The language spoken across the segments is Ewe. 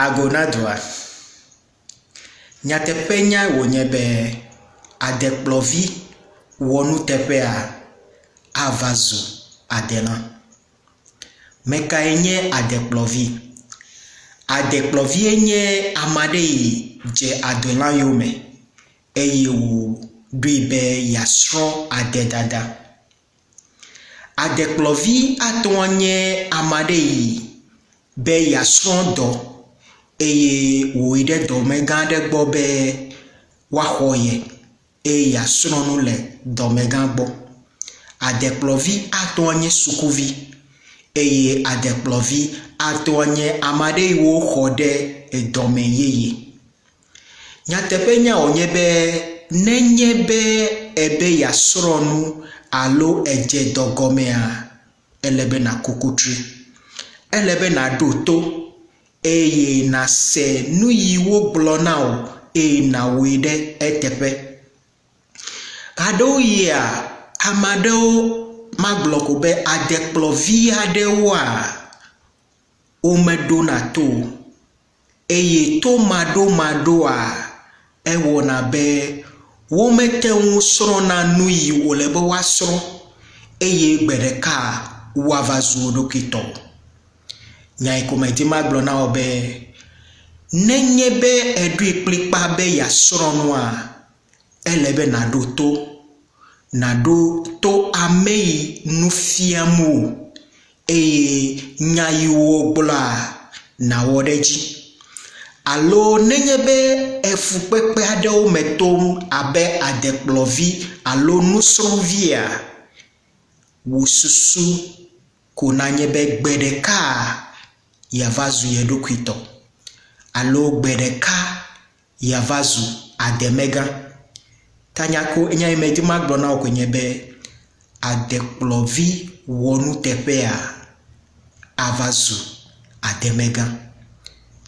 Ago na dua. Nyateƒenyae wònye be adekplɔvi wɔnuteƒea ava zu adelã. Mekae nye adekplɔvi? Adekplɔvie nye ame aɖe yi dze adelã yome eye wòɖoe be yeasrɔ̃ ade dada. Adekplɔvi ate ŋu anye ame aɖe yi be yeasrɔ̃ dɔ eye wòyi ɖe dɔmegã aɖe gbɔ be woaxɔ ye eye yeasrɔ̃ nu le dɔmegã gbɔ. Adekplɔvi ate ŋu anye sukuvi eye adekplɔvi ate ŋu anye ame aɖe yi woxɔ ɖe edɔme yeye. Nyateƒenya wònye be nenye be èbe yeasrɔ̃ nu alo èdze dɔ gɔmea, ele be nàku kutri. Ele be nàɖo to eye nàse nu yi wogblɔ na wò eye nàwɔe ɖe eteƒe. Ɣeaɖewoɣia, ame aɖewo, magblɔ ko be adekplɔvi aɖewoa, womeɖona to o. Eye tomaɖomaɖoa, ewɔna be womete ŋu srɔ̃na nuyi wòle be woasrɔ̃ eye gbe ɖeka woava zu wo ɖokui tɔ. Nyae ko medi magblɔ na wò be, nenye be èɖoe kplikpaa be yeasrɔ̃ nua, Ele be nàɖo to. Nàɖo to ame yi nu fiam wò eye nya yi wogblɔa, nàwɔ ɖe edzi. Alo nenye be efukpekpe aɖewo me tom abe adekplɔvi alo nusrɔ̃via, wò susu ko nanye be gbe ɖeka yeava zu ye ɖokui tɔ alo gbe ɖeka yeava zu ademegã. Tanya ko nya yi medi magblɔ na wò koe nye be adekplɔvi wɔnuteƒea ava zu ademegã.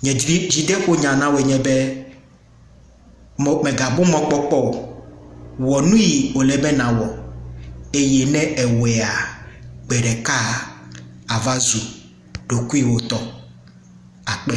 Nye dzi dzideƒonya na wòe nye be mɔ mègabu mɔkpɔkpɔ o. Wɔ nu yi wòle be nàwɔ eye ne èwɔea gbe ɖeka àva zu ɖokuiwò tɔ. Akpe.